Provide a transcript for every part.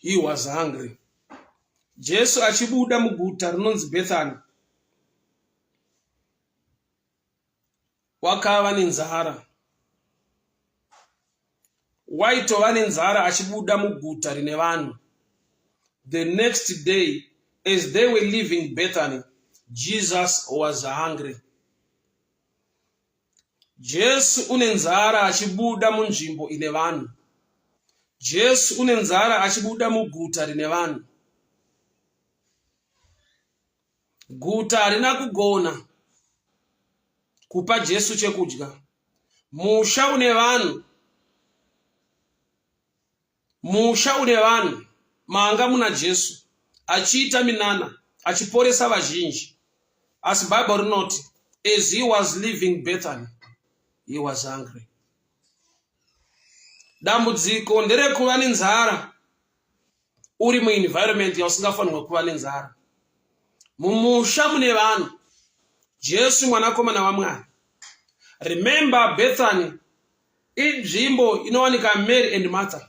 he was hungry jesu achibuda muguta rinonzi bethany wakava nenzara waitova nenzara achibuda muguta rine vanhu the next day as they were leaving bethany jesus was hungry Jesu une nzara achibuda munzvimbo ine vanhu. Jesu une nzara achibuda muguta rine vanhu. Guta harina kugona kupa Jesu chekudya. Musha une vanhu Musha une vanhu manga muna Jesu achiita minana achiporesa vazhinji. Asi Bible rinoti as he was leaving Bethany he was hungry. Dambudziko nderekuva nenzara uri muenvironment yausingafanirwe kuva nenzara. Mumusha mune vanhu Jesu mwanakomana waMwari. Remember Bethany inzvimbo inowanika mary and martha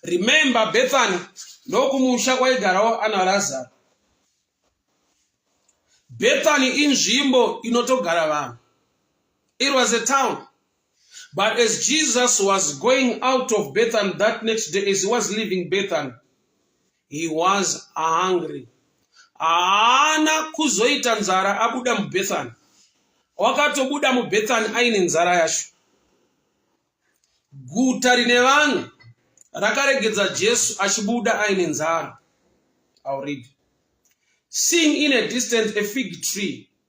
remember bethany ndokumusha kwaigarawo ana razaro bethany inzvimbo inotogara vanhu it was a town but as jesus was going out of bethany that next day as he was leaving bethany he was hungry haana kuzoita nzara abuda mubethani wakatobuda mubethani aine nzara yacho guta rine vanhu rakaregedza jesu achibuda aine nzara I'll read. Seeing in a distance a fig tree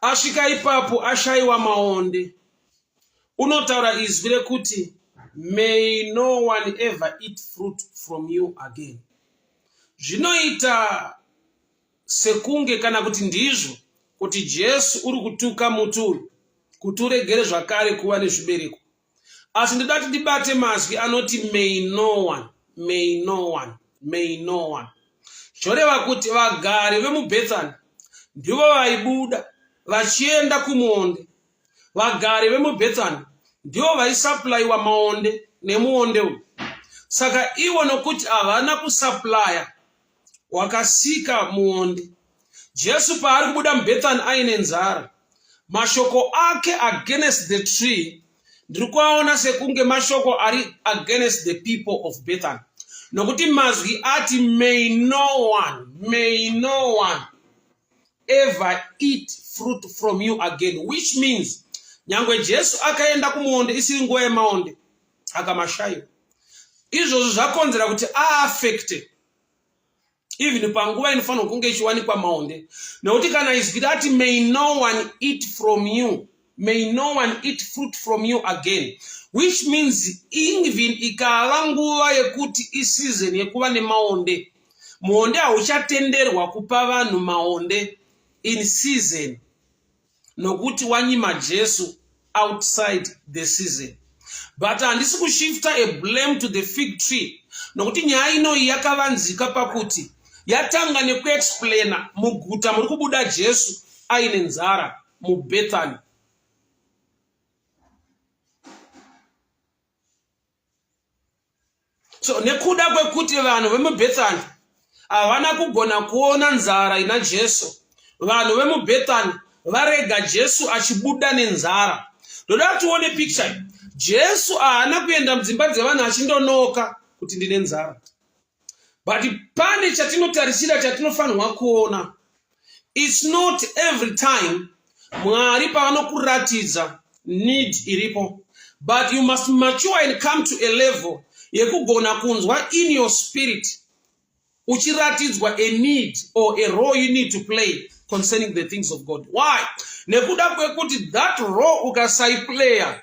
asvika ipapo ashayiwa maonde unotaura izwi rekuti may no one ever eat fruit from you again zvinoita sekunge kana kuti ndizvo kuti jesu uri kutuka muti uyu kuti uregere zvakare kuva nezvibereko asi ndoda kuti ndibate mazwi anoti may no one may no one may no one zvoreva kuti vagari vemubethani ndivo vaibuda vachienda kumuonde vagari vemubethani ndivo vaisaplaiwa maonde nemuonde uyu saka ivo nokuti havana kusaplaya wakasika muonde. Jesu paari kubuda muBethany aine nzara, mashoko ake against the tree ndiri kuaona sekunge mashoko ari against the people of Bethany, nokuti mazwi ati may no one, may no one ever eat fruit from you again, which means nyangwe Jesu akaenda kumuonde isiri nguva yemaonde akamashayiwa izvozvo zvakonzera kuti aafekte even panguva inofanirwa kunge ichiwanikwa maonde nekuti kana izwi rati may no one eat from you may no one eat fruit from you again which means even ikava nguva yekuti isizon yekuva nemaonde muonde hauchatenderwa kupa vanhu maonde in season nokuti wanyima jesu outside the season but handisi kushifta a blame to the fig tree nokuti nyaya inoyi yakavanzika pakuti yatanga nekuexplaina muguta muri kubuda jesu aine nzara mubethany so nekuda kwekuti vanhu vemubethani havana kugona kuona nzara ina jesu vanhu vemubethani varega jesu achibuda nenzara ndoda tione picture jesu haana kuenda mudzimba dzevanhu achindonooka kuti ndine nzara but pane chatinotarisira chatinofanirwa kuona its not every time mwari pavanokuratidza need iripo but you must mature and come to a level yekugona kunzwa in your spirit uchiratidzwa a need or a role you need to play concerning the things of god why nekuda kwekuti that role ukasaiplayer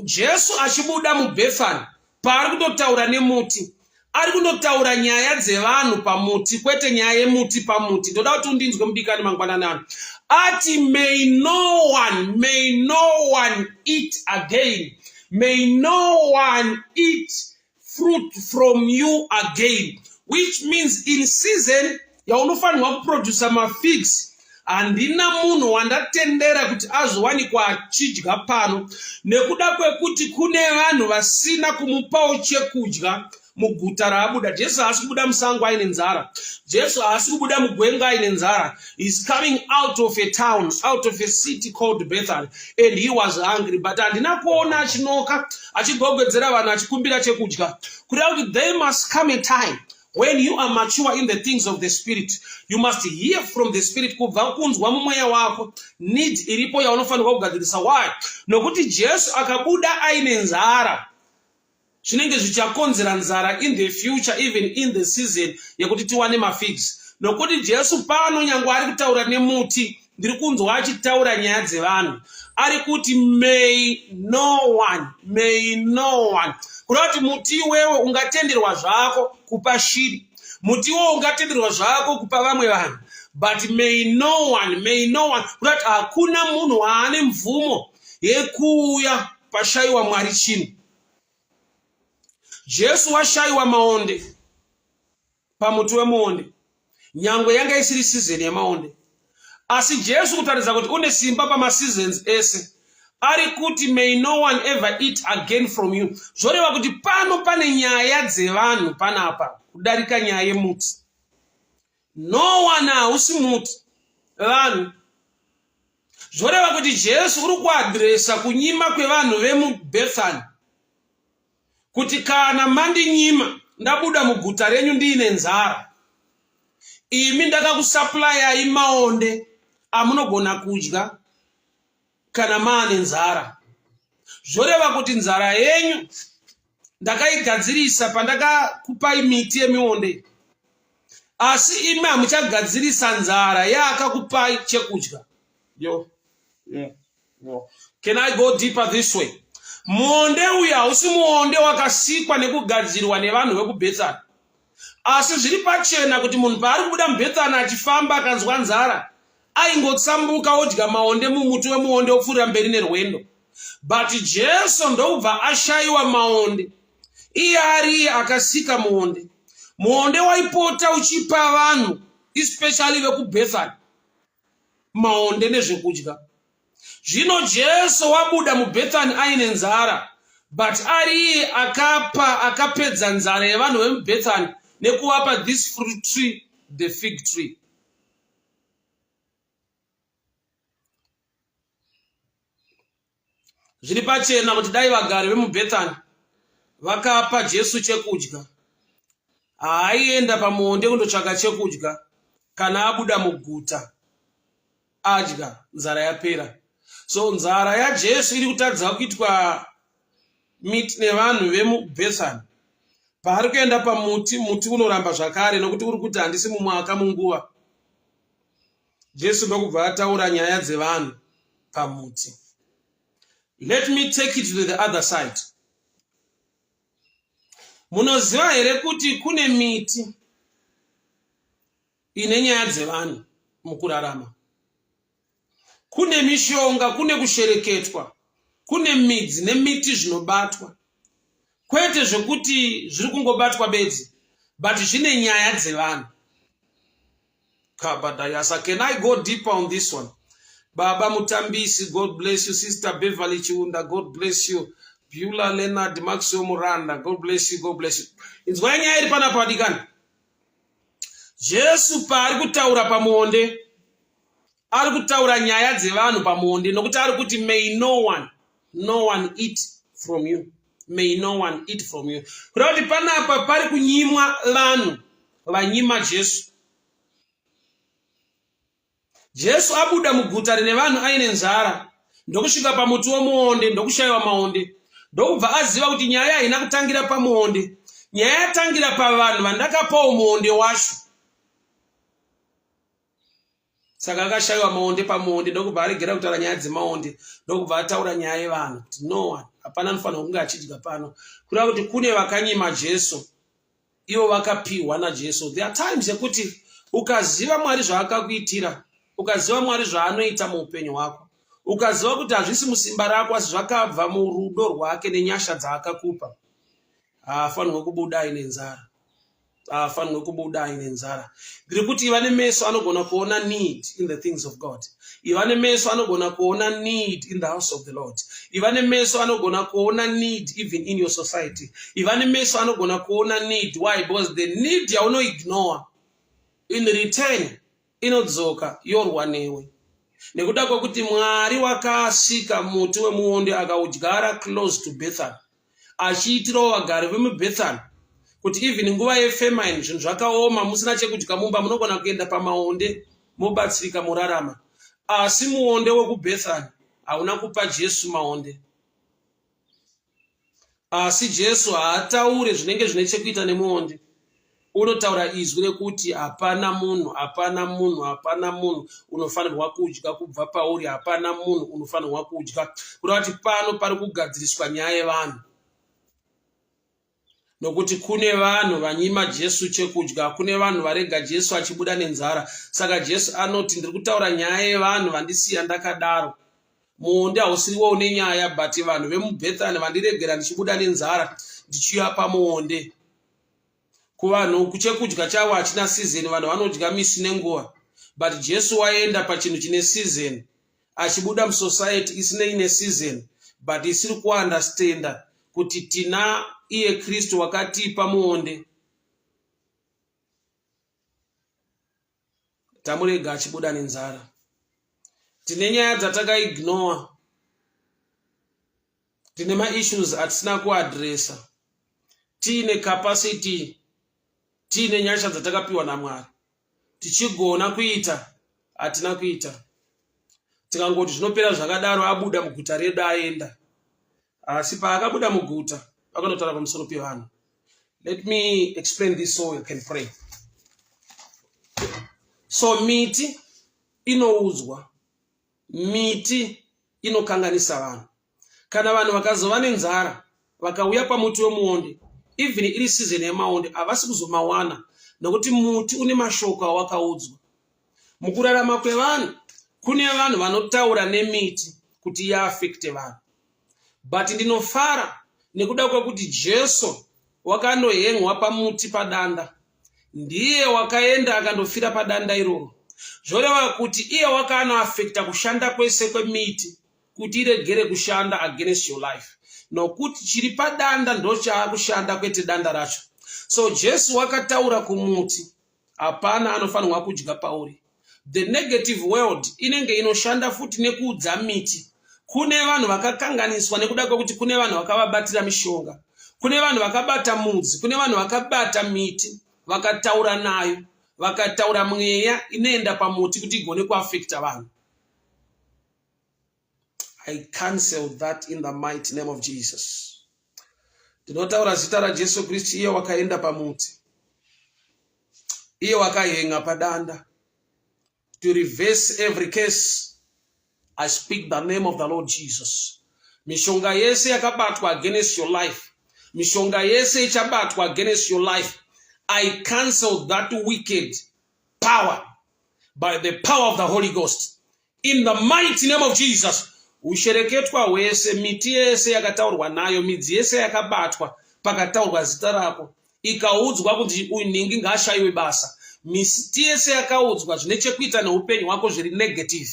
jesu achibuda mubhefani paari kutotaura nemuti ari kunotaura nyaya dzevanhu pamuti kwete nyaya yemuti pamuti ndoda kuti undinzwe mudikani mangwanani ano ati may no one may no one eat again may no one eat fruit from you again which means in season yaunofanirwa kuproducer mafigs handina munhu wandatendera kuti azowanikwa achidya pano nekuda kwekuti kune vanhu vasina kumupawo chekudya muguta raabuda jesu haasi kubuda musango aine nzara jesu haasi kubuda mugwenga aine nzara is coming out of a town out of a city called bethel and he was hungry but handina kuona achinoka achigogwedzera vanhu achikumbira chekudya kuda kuti they must come a time When you are mature in the things of the spirit, you must hear from the spirit kubva kunzwa mumweya wako need iripo yaunofanirwa kugadzirisa. Why? Nokuti Jesu akabuda aine nzara zvinenge zvichakonzera nzara in the future even in the season yekuti tiwane mafigs nokuti jesu pano nyange ari kutaura nemuti ndiri kunzwa achitaura nyaya dzevanhu ari kuti may no one may no one kuda kuti muti iwewe ungatenderwa zvako kupa shiri muti iwewe ungatenderwa zvako kupa vamwe vanhu but may no one may no one kuda kuti hakuna munhu waane mvumo yekuuya pashayiwa mwari chinhu jesu washayiwa maonde pamuti wemuonde nyangwe yanga isiri sizeni yemaonde asi jesu kutaridza kuti une simba pamaseasons ese ari kuti may no one ever eat again from you zvoreva kuti pano pane nyaya dzevanhu panapa kudarika nyaya yemuti no one hausi muti vanhu zvoreva kuti jesu uri kuadresa kunyima kwevanhu vemubethany kuti kana mandinyima ndabuda muguta renyu ndiine nzara imi ndakakusaplayai maonde amunogona kudya kana maane nzara zvoreva kuti nzara yenyu ndakaigadzirisa pandakakupai miti yemionde asi imi hamuchagadzirisa nzara yaakakupai chekudya yo yeah. Can I go deeper this way? Muonde uyu hausi muonde wakasikwa nekugadzirwa nevanhu vekubhetsana. Asi zviri pachena kuti munhu paari kubuda mubhetsana achifamba akanzwa nzara, aingotsambuka odya maonde mumuti wemuonde opfuurira mberi nerwendo. But Jesu ndokubva ashayiwa maonde. Iye ariye akasika muonde. Muonde waipota uchipa vanhu especially vekubhetsana. maonde nezvekudya zvino jesu wabuda mubethani aine nzara but ari iye akapa akapedza nzara yevanhu vemubethani nekuvapa this fruit tree the fig tree Zviri pachena kuti dai vagari vemuBethany vakapa Jesu chekudya, haaienda pamuonde kundotsvaka chekudya kana abuda muguta adya nzara yapera. So nzara yaJesu iri kutadza kuitwa miti nevanhu vemuBethany. Paari kuenda pamuti, muti unoramba zvakare nokuti uri kuti handisi mumwaka munguva. Jesu ndokubva ataura nyaya dzevanhu pamuti. Let me take it to the other side. Munoziva here kuti kune miti ine nyaya dzevanhu mukurarama? Kune mishonga, kune kushereketwa, kune midzi nemiti zvinobatwa. Kwete zvekuti zviri kungobatwa bedzi, but zvine nyaya dzevanhu. kabadayasa can i go deeper on this one baba mutambisi god bless you sister beverly chiunda god bless you bula leonard maxwell muranda god bless you god bless you inzwai nyaya iri panapa vadikani jesu paari kutaura pamuonde ari kutaura nyaya dzevanhu pamuonde nokuti ari kuti may no one no one eat from you may no one eat from you kureva kuti panapa pari kunyimwa vanhu vanyima jesu jesu abuda muguta rine vanhu aine nzara ndokusvika pamuti womuonde ndokushayiwa maonde ndokubva aziva kuti nyaya haina kutangira pamuonde nyaya yatangira pavanhu vandakapawo muonde wacho saka akashaiwa maonde pamuonde ndokubva aregera kutaura nyaya dzemaonde ndokubva ataura nyaya yevanhu kuti no one hapana anofanira kunge achidya pano kureva kuti kune vakanyima jesu ivo vakapiwa najesu there are times yekuti ukaziva mwari zvaakakuitira ukaziva mwari zvaanoita muupenyu hwako ukaziva kuti hazvisi musimba rako asi zvakabva murudo rwake nenyasha dzaakakupa haafanirwe kubuda aine nzara haafanirwe kubuda aine nzara ndiri kuti iva nemeso anogona kuona need in the things of god iva nemeso anogona kuona need in the house of the lord iva nemeso anogona kuona need even in your society iva nemeso anogona kuona need why because the need yaunoignore in return inodzoka yorwa newe nekuda kwekuti mwari wakasika muti wemuonde akaudyara close to bethan achiitirawo vagari vemubethan kuti even nguva yefemine zvinhu zvakaoma musina chekudya mumba munogona kuenda pamaonde mobatsirika morarama asi muonde wekubethan hauna kupa jesu maonde asi jesu haataure zvinenge zvine chekuita nemuonde unotaura izwi rekuti hapana munhu hapana munhu hapana munhu unofanirwa kudya kubva pauri hapana munhu unofanirwa kudya kureva kuti pano pari kugadziriswa nyaya yevanhu nokuti kune vanhu vanyima jesu chekudya kune vanhu varega jesu achibuda nenzara saka jesu anoti ndiri kutaura nyaya yevanhu vandisiya ndakadaro muonde hausiriwo une nyaya but vanhu vemubethani vandiregera ndichibuda nenzara ndichiuya pamuonde kuvanhu chekudya chavo hachina season vanhu vanodya misi nenguva but jesu waenda pachinhu chine season achibuda musociety isinei neseason but isiri kuunderstanda kuti tina iye kristu wakatipa muonde tamurega achibuda nenzara tine nyaya dzatakaignore tine maissues atisina kuadresa tiine capacity tiine nyasha dzatakapiwa namwari tichigona kuita hatina kuita tikangoti zvinopera zvakadaro abuda muguta redu aenda asi paakabuda muguta akanotaura pamusoro pevanhu let me explain this so you can pray so miti inoudzwa miti inokanganisa vanhu kana vanhu vakazova nenzara vakauya pamuti wemuonde even iri season yemaonde havasi kuzomawana nokuti muti une mashoko awakaudzwa mukurarama kwevanhu kune vanhu vanotaura nemiti kuti iafekte vanhu but ndinofara nekuda kwekuti jesu wakanohengwa pamuti padanda ndiye wakaenda akandofira padanda iroro zvoreva kuti iye wakanoafekta kushanda kwese kwemiti kuti iregere kushanda against your life nokuti chiri padanda ndochaakushanda kwete danda racho so jesu wakataura kumuti hapana anofanirwa kudya pauri the negative world inenge inoshanda futi nekuudza miti kune vanhu vakakanganiswa nekuda kwekuti kune vanhu vakavabatira mishonga kune vanhu vakabata mudzi kune vanhu vakabata miti vakataura nayo vakataura mweya inoenda pamuti kuti igone kuafekta vanhu I cancel that in the mighty name of Jesus. Ndinotaura zita raJesu Kristu iye wakaenda pamuti. Iye wakahenga padanda. To reverse every case, I speak the name of the Lord Jesus. Mishonga yese yakabatwa against your life. Mishonga yese ichabatwa against your life. I cancel that wicked power by the power of the Holy Ghost. In the mighty name of Jesus. Ushereketwa hwese, miti yese yakataurwa nayo, midzi yese yakabatwa pakataurwa zita rako, ikaudzwa kuti uyu nhingi ngaashayiwe basa. Miti yese yakaudzwa zvine chekuita neupenyu hwako zviri negative.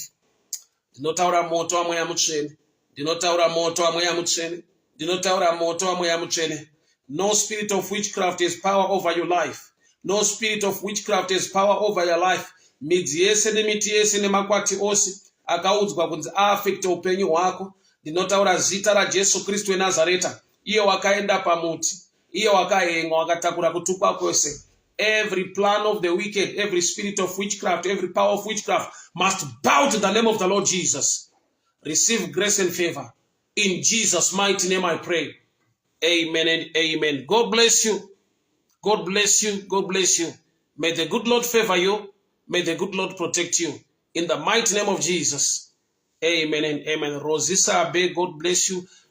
Ndinotaura moto wamweya mutsvene. ndinotaura moto wamweya mutsvene ndinotaura moto wamweya mutsvene no spirit of witchcraft has power over your life no spirit of witchcraft has power over your life midzi yese nemiti yese nemakwati ose akaudzwa kunzi aafekte upenyu hwako ndinotaura zita rajesu kristu wenazareta iye wakaenda pamuti iye wakahengwa wakatakura kutukwa kwese every plan of the wicked every spirit of witchcraft every power of witchcraft must bow to the name of the lord jesus receive grace and favor in jesus mighty name i pray amen and amen god bless you god bless you god bless you may the good lord favor you may the good lord protect you in the mighty name of jesus amen and amen rosisa abe god bless you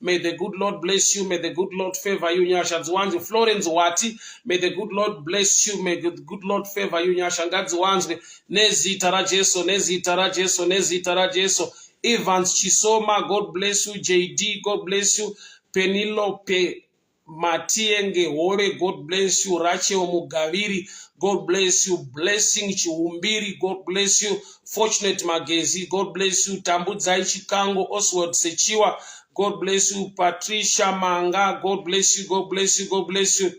May the good Lord bless you. May the good Lord favor you. Nyasha dziwanzwe. Florence Wati. May the good Lord bless you. May the good Lord favor you. Nyasha ngadziwanzwe. Nezita raJesu. Nezita raJesu. Nezita raJesu. Evans Chisoma. God bless you. JD. God bless you. Penelope. matienge hore god bless you rachel mugaviri god bless you blessing chiumbiri god bless you fortunate magezi god bless you tambudzai chikango oswald sechiwa god bless you patricia manga god bless you god bless you god bless you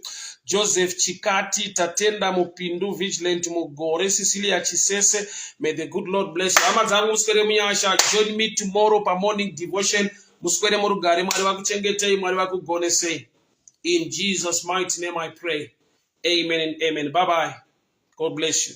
joseph chikati tatenda mupindu vigilant mugore cecilia chisese may the good lord bless you hama dzangu muswere munyasha join me tomorrow pamorning devotion muswere murugare mwari vakuchengetei mwari vakugonesei in jesus mighty name i pray amen and amen bye bye god bless you